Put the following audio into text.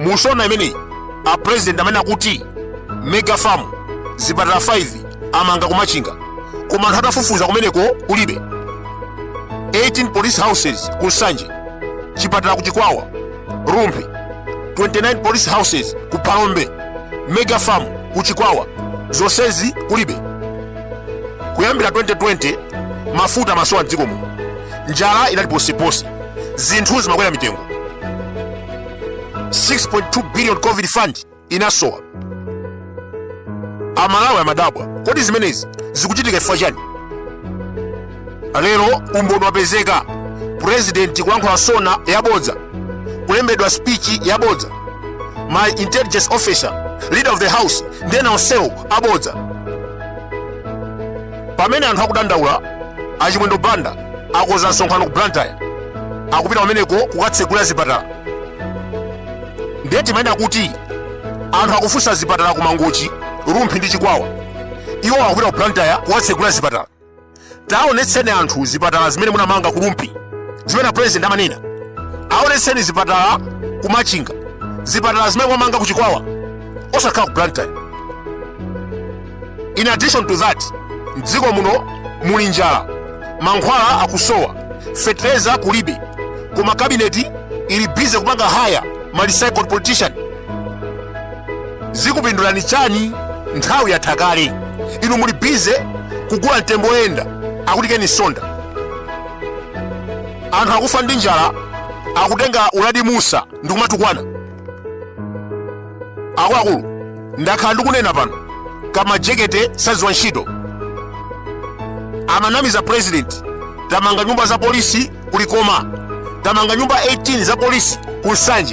mu sona imeneyi a president amanena kuti mega farm zipatala 5 amanga kumachinga koma anthu atafufuza kumeneko kulibe 18 police houses ku nsanje chipatala ku chikwawa rumphi 29 police houses ku phalombe mega farm ku chikwawa zonsezi kulibe kuyambira 2020 mafuta amasowa mdziko muno njala inali ponseponse zinthu zimakwera mitengo 6.2 billion covid fund inasowa amalawi amadabwa kodi zimenezi zikuchitika chifukwa chani lero umboni wapezeka purezidenti kulankhula sona yabodza kulembedwa spichi yabodza ma intelligence officer leader of the house ndi ena onsewo abodza pamene anthu akudandaula achimwendo banda akonza msonkhano ku blantyre akupita kumeneko kukatsegula zipatala ndiye timanena kuti anthu akufunsa zipatala ku mangochi rumphi ndi chikwawa iwo akupita ku blantyre kukatsegula zipatala taonetseni anthu zipatala zimene munamanga ku rumphi zimene apresident amanena aonetseni zipatala ku machinga zipatala zimene mwamanga ku chikwawa osakhala ku blantyre in addition to that mdziko muno muli njala mankhwala akusowa fetereza kulibe koma kabineti ili bize kupanga haya ma recycled politician zikupindulani chani nthawi yatha kale inu muli bize kugula mtembo oyenda akuti ken msonda anthu akufa ndi njala akutenga uladi musa ndikumatukwana akuluakulu ndakhala ndikunena pano kuti amajekete sadziwa ntchito amanamiza president tamanga nyumba za polisi kulikoma tamanga nyumba 18 za polisi ku nsanje